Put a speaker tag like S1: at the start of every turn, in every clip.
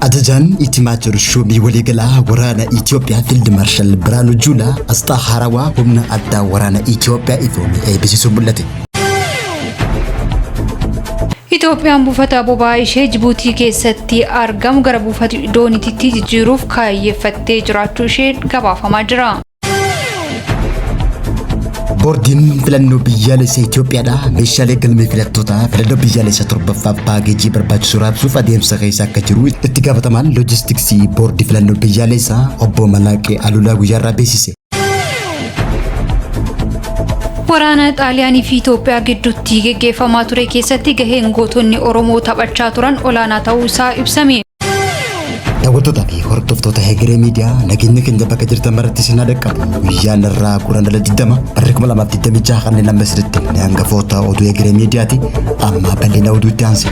S1: Ajajaan Itimaajor Shuumii Waliigalaa Waraana Itoophiyaa Fiild Maarshaal Biraanuu Juulaa asxaa haarawaa humna addaa waraana Itoophiyaa ifoomee eebbisiisuun mul'ate.
S2: Itoophiyaan buufata boba'aa ishee Jibuutii keessatti argamu gara buufata dooniitti jijjiiruuf kaayyeffattee jiraachuu ishee gabaafamaa jira.
S1: Boordiin filannoo biyyaalessa Itoophiyaadhaa meeshaalee galmee filattootaa filannoo biyyaalessa torbaffaaf paakeejii barbaachisu raabsuuf adeemsa keessa akka jiru itti gaafatamaan loojistiksii boordii filannoo biyyaalessaa obbo Malaaqee Alulaa guyyaarraa beeksise.
S2: Waraana Xaaliyaanii fi Itoophiyaa gidduutti geggeeffamaa ture keessatti gaheen gootonni Oromoo taphachaa turan olaanaa ta'uu isaa ibsame.
S1: Daawwattoota fi hordoftoota Hegeree Miidiyaa nageenya keenya bakka jirtan maratti sinaa dhaqqabu guyyaan irraa guraan dhala 20 barri 2026 kanneen amma isinitti himne hangafoota oduu Hegeree Miidiyaati amma bal'ina oduutti aansi.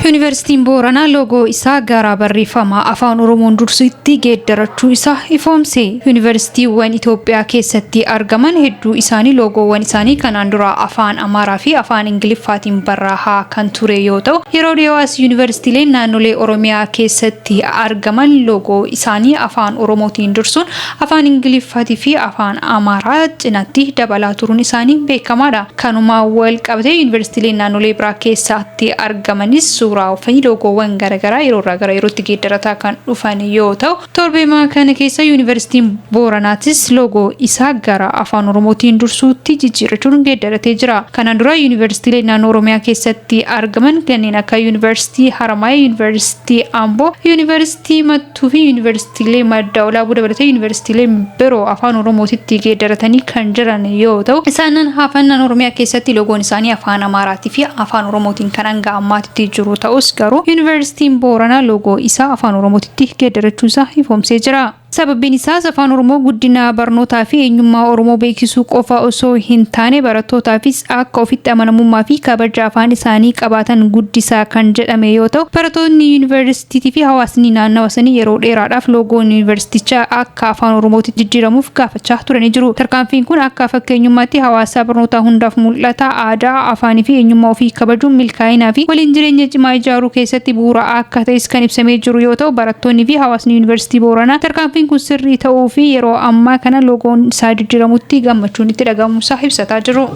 S2: Yuunivarsiitiin Booranaa loogoo isaa gara barreeffama afaan Oromoon dursutti geeddarachuu isaa ifoomse. Yuunivarsiitiiwwan Itoophiyaa keessatti argaman hedduu isaanii loogoowwan isaanii kanaan dura afaan Amaaraa fi Afaan Ingiliffaatiin barraahaa kan ture yoo ta'u, yeroo dhiyoo as Yuunivarsiitiileen naannolee Oromiyaa keessatti argaman loogoo isaanii Afaan Oromootiin dursuun Afaan Ingiliffaatii fi Afaan Amaaraa cinatti dabalaa turuun isaanii beekamaadha. Kanuma wal qabatee Yuunivarsiitiileen naannolee biraa keessaatti argamanis suuraa fi loogoowwan garagaraa yeroo irraa gara yerootti geeddarataa kan dhufan yoo ta'u, Torbeemaa kana keessa Yuunivarsiitiin Booranaatis loogoo isaa gara Afaan Oromootiin dursuutti jijjiirrachuun geeddaratee jira. Kanaan dura Yuunivarsiitiilee naannoo Oromiyaa keessatti argaman kanneen akka Yuunivarsiitii Haramaaya, Yuunivarsiitii Amboo, Yuunivarsiitii Mattuu fi Yuunivarsiitiilee Madda Walaabuu dabalatee Yuunivarsiitiileen biroo Afaan Oromootitti geeddaratanii kan jiran yoo ta'u, isaanan hafan naannoo Oromiyaa keessatti loogoon isaanii Afaan Amaaraatii fi Afaan Oromootiin kan hanga ammaatitti jiru ta'us garuu Yuunivarsiitiin Booranaa loogoo isaa Afaan Oromootitti tti geeddarachuu isaa ifoomsee jira. Sababbiin isaas Afaan Oromoo guddina barnootaa fi eenyummaa Oromoo beeksisuu qofa osoo hin taane barattootaafis akka ofitti amanamummaa fi kabaja afaan isaanii qabaatan guddisaa kan jedhame yoo ta'u, barattootni Yuunivarsiitiitii fi hawaasni naannawa sanii yeroo dheeraadhaaf loogoon Yuunivarsiitichaa akka Afaan Oromootitti jijjiiramuuf gaafachaa turan. fudhachaa ture ni jiru. Tarkaanfiin kun akka fakkeenyummaatti hawaasaa barnootaa hundaaf mul'ata. Aadaa, afaanii fi eenyummaa ofii kabajuun milkaa'inaa fi waliin jireenya cimaa ijaaruu keessatti bu'uura akka ta'es kan ibsamee jiru yoo ta'u, barattoonni fi hawaasni Yuunivarsiitii Booranaa tarkaanfiin kun sirrii ta'uu fi yeroo ammaa kana loogoon isaa jijjiiramutti gammachuun itti dhaga'amuusaa ibsataa jiru.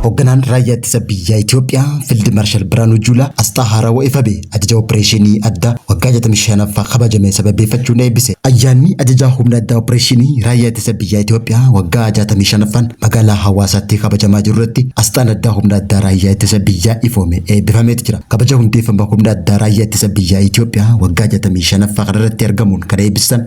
S1: Hoogganaan raayyaa ittisa biyyaa Itoophiyaa Fiild Maarshaal Birhaanuu Juulaa asxaa haarawaa ifa ba'e ajaja opereeshinii addaa waggaa 65ffaa kabajame sababeeffachuun eebbise. Ayyaanni ajajaa humna addaa opereeshinii raayyaa ittisa biyyaa Itoophiyaa waggaa 65ffaan magaalaa Hawaasaatti kabajamaa jiru irratti asxaan addaa humna addaa raayyaa ittisa biyyaa ifoome eebbifameeti jira. Kabaja hundeeffama humna addaa raayyaa ittisa biyyaa Itoophiyaa waggaa 65ffaa kanarratti argamuun kan eebbisan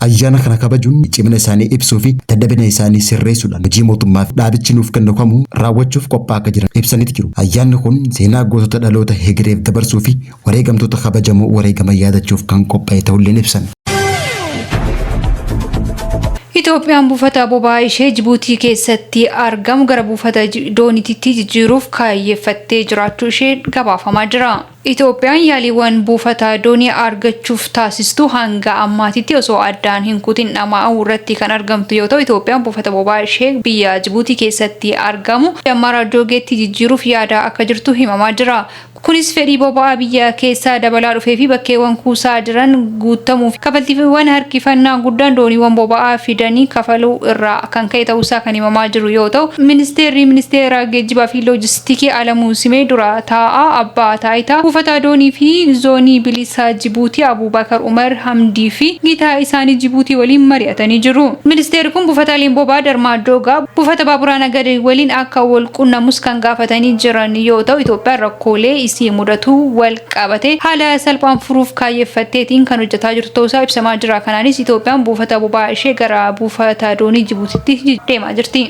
S1: Ayyaana kana kabajuun cimina isaanii ibsuu fi dadhabina isaanii sirreessuudhaan hojii mootummaa fi dhaabichi nuuf kennu kamuu raawwachuuf qophaa akka jiran ibsaniiti jiru. Ayyaanni kun seenaa gootota dhaloota hegereef dabarsuu fi wareegamtoota kabajamoo wareegaman yaadachuuf kan qopha'e ta'ulleen ibsan.
S2: Itoophiyaan buufata boba'aa ishee Jibuutii keessatti argamu gara buufata doonititti jijjiiruuf kaayyeffattee jiraachuu ishee gabaafamaa jira. Itoophiyaan yaaliiwwan buufata doonii argachuuf taasistu hanga ammaatitti osoo addaan hin kutin dhama'au irratti kan argamtu yoo ta'u, Itoophiyaan buufata boba'aa ishee biyya Jibuutii keessatti argamu Dammaraa Joogeetti jijjiiruuf yaadaa akka jirtu himamaa jira. Kunis fedhii boba'aa biyya keessaa dabalaa dhufee fi bakkeewwan kuusaa jiran guuttamuu fi kafaltiiwwan harkifannaa guddaan dooniiwwan boba'aa fidanii kafaluu irraa kan ka'e ta'uusaa kan himamaa jiru yoo ta'u, Ministeerri Ministeera Geejjibaa fi Loojistikii. Tikee Alamuu Simee Dura Taa'aa Abbaa Taayitaa Buufataa Doonii fi Zoonii Bilisa Jibuutii Abuubakar Umar Hamdii fi gitaa isaanii Jibuutii waliin mari'atanii jiru. Ministeerri kun buufataaleen boba'aa Darmaadoogaa buufata baaburaa Nagadee waliin akka wal qunnamus kan gaafatanii jiran yoo ta'u, Itoophiyaan rakkoolee isii mudatuu wal qabatee haala salphaan furuuf kaayyeffatteetiin kan hojjataa jirtu ta'uusaa ibsamaa jira. Kanaanis Itoophiyaan buufata boba'aa ishee gara buufata doonii Jibuutiitti deemaa jirti.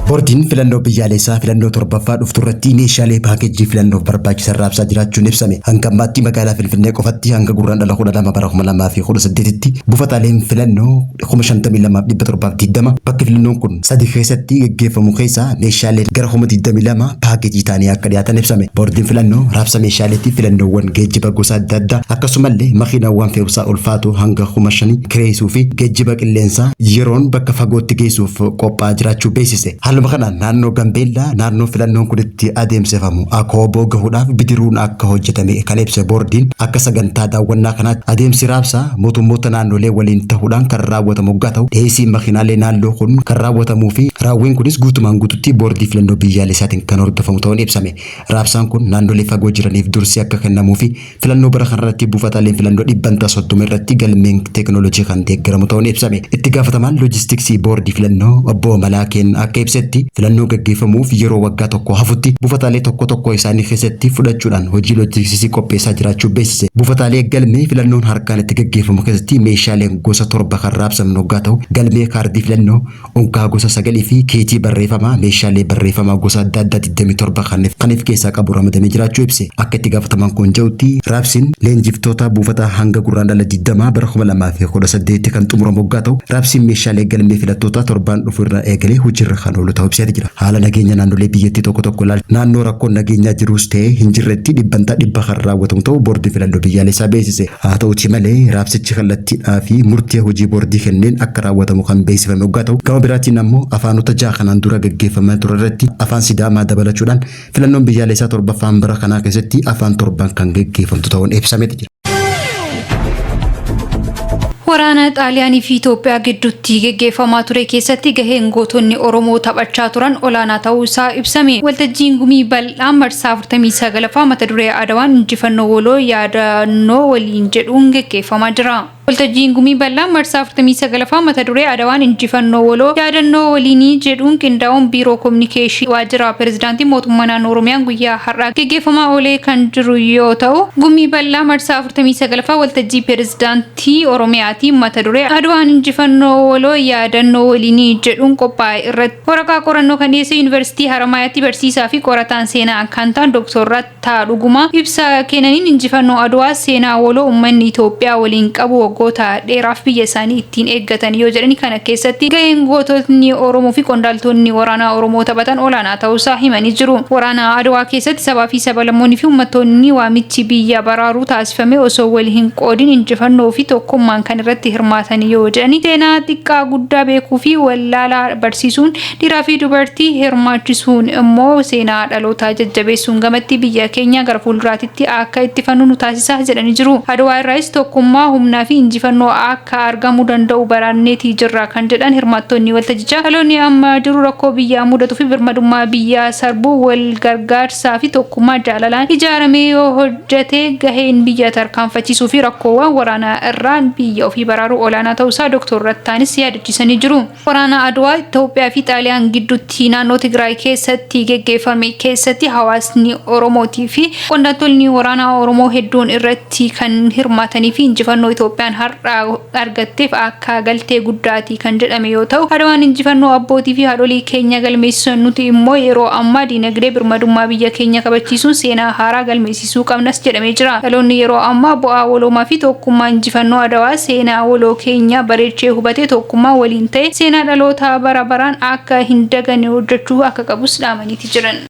S1: Boordiin filannoo biyyaalessaa filannoo torbaffaa dhuftu irratti meeshaalee paakeejii filannoof barbaachisan raabsaa jiraachuun ibsame. Hanga ammaatti magaalaa Finfinnee qofatti hanga gurraan dhala 12 bara 2018tti buufataaleen filannoo 52,720 bakki filannoon kun sadii keessatti gaggeeffamu keessaa meeshaalee gara 22 paakeejii ta'anii akka dhiyaatan ibsame. Boordiin filannoo raabsa meeshaaleetti filannoowwan geejjiba gosa adda addaa akkasumallee makiinawwan fe'umsaa ulfaatoo hanga 5,000 kireessuu fi geejjiba qilleensaa yeroon bakka fagootti geessuuf qophaa'aa jiraachuu beeksise. Haaluma kanaan naannoo Gambeellaa naannoo filannoon kun itti adeemsifamu Akooboo gahuudhaaf bidiruun akka hojjetame kan ibse boordiin akka sagantaa daawwannaa kanaatti adeemsi raabsaa mootummoota naannolee waliin tahuudhaan kan raawwatamu oggaa tahu dhiheessiin makiinaalee naannoo kun kan raawwatamuu fi raawwiin kunis guutumaan guututti boordii filannoo biyyaalessaatiin kan hordofamu tahuun ibsame. Raabsaan kun naannolee fagoo jiraniif dursi akka kennamuu fi Filannoo bara kanarratti buufataaleen filannoo dhibbantaa 30 irratti galmeen teeknooloojii kan deeggaramu ta'uun ibsame. Itti gaafatamaan loojistiksii boordii filannoo obbo Malaakeen akka ibsetti filannoon gaggeeffamuuf yeroo waggaa tokko hafutti buufataalee tokko tokkoo isaanii keessatti fudhachuudhaan hojii loojistiksii qopheessaa jiraachuu beeksise. Buufataalee galmee filannoon harkaan itti gaggeeffamu keessatti meeshaaleen gosa torba kan raabsaman hoggaa ta'u galmee kaardii filannoo, Unkaa gosa 9 fi keejii barreefamaa meeshaalee barreefamaa gosa adda addaa 27 kan kan if keessaa qabu ramadamee jiraachuu ibse. Akka itti gaafatamaan kun ja'utti, raabsiin leenjiftoota buufataa hanga Gurraandhala 20 bara 2018tti kan xumuramu oggaa ta'u, raabsiin meeshaalee galmee filattootaa torbaan dhufu irraa eegalee hojiirra kan oolu ta'uu ibseeti jira. Haala nageenya naannolee biyyattii tokko tokko ilaalchisee naannoo rakkoon nageenyaa jiruus ta'ee hin jirretti dhibbantaa dhibba kan raawwatamu ta'uu Boordiin Filannoo Biyyaalessaa beeksise. Haa ta'uutii malee, raabsichi kallattiidhaa fi murtee hojii boordii kenneen akka raawwatamu kan beeksifame oggaa ta'u, gama biraatiin ammoo afaanota ja'a kanaan dura gaggeeffamaa ture irratti Afaan Sidaamaa dabalachuudhaan filannoon biyyaaleessaa torbaffaan bara kanaa keessatti afaan torbaan kan gaggeeffamtu ta'uun ibsameeti jira.
S2: Waraana Xaaliyaanii fi Itoophiyaa gidduutti geggeeffamaa ture keessatti gaheen gootonni Oromoo taphachaa turan olaanaa ta'uu isaa ibsame. Waltajjiin gumii bal'aa Bal'aan marsaa 49ffaa mata duree Adawaan Injifannoo Waloo Yaadannoo Waliin jedhuun geggeeffamaa jira. Waltajjiin Gumii Bal'aan marsaa 49ffaa mata duree Adawaan Injifannoo Waloo Yaadannoo Waliinii jedhuun qindaa'uun Biiroo Kominikeeshinii Waajjira Pirezidaantii Mootummaa Naannoo Oromiyaan guyyaa har'aa geggeeffamaa oolee kan jiru yoo ta'u, Gumii Bal'aa marsaa 49ffaa Waltajjii Pirezidaantii Oromiyaatiin mata duree Adawaan Injifannoo Waloo Yaadannoo Waliinii jedhuun qophaa'e irratti. Waraqaa qorannoo kan dhiyeesse Yuunivarsiitii Haramaayaatti barsiisaa fi qorataan seenaa kan ta'an Doktor Rattaa Dhugumaa ibsa kennaniin injifannoo Adwaa seenaa waloo ummanni Itoophiyaa waliin qabu waggoota dheeraaf biyya isaanii ittiin eeggatan yoo jedhani kana keessatti gaheen goototni Oromoo fi qondaaltonni waraanaa Oromoo taphatan olaanaa ta'uusaa himanii jiru. Waraana Adwaa keessatti sabaa fi sabalammoonni fi ummattoonni waamichi biyya baraaruu taasifame osoo wal hin qoodin injifannoo fi tokkummaan kan irratti hirmaatan yoo jedhani seenaa xiqqaa guddaa beekuu fi wal wallaalaa barsiisuun dhiiraa fi dubartii hirmaachisuun immoo seenaa dhalootaa jajjabeessuun gamatti biyya keenya gara fuulduraatitti akka ittifannu nu taasisa jedhanii jiru. Adwaa irraayis tokkummaa, humnaa fi injifannoo akka argamu danda'u baraanneeti jirra kan jedhan hirmaattonni waltajjichaa dhaloonni amma jiru rakkoo biyyaa mudatu fi birmadummaa biyyaa sarbu wal gargaarsaa fi tokkummaa jaalalaan ijaaramee yoo jetee gaheen biyya tarkaanfachiisuu fi rakkoowwan waraanaa irraa biyya ofii baraaruu olaanaa ta'uu isaa Doktor Rattaanis yaadachiisanii jiru. Waraana Adwaa Itoophiyaa fi Xaaliyaan gidduutti naannoo Tigraay keessatti geggeeffame keessatti hawaasni Oromootii fi qondaaltonni waraanaa Oromoo hedduun irratti kan hirmaatanii fi injifannoo Itoophiyaan har'a argatteef akka kaa galtee guddaati kan jedhame yoo ta'u, Adwaan injifannoo abbootii fi haadholii keenya galmeessisan nuti immoo yeroo ammaa diinagdee birmadummaa biyya keenya kabachiisuun seenaa haaraa galmeessisuu qabnas jedhamee jira. Dhaloonni yeroo ammaa bu'aa waloomaa fi tokkummaa injifannoo Adwaa seenaa waloo keenyaa bareechee hubatee tokkummaa waliin ta'ee seenaa dhalootaa bara baraan akka hin daganne hojjechuu akka qabus dhaamaniiti jiran.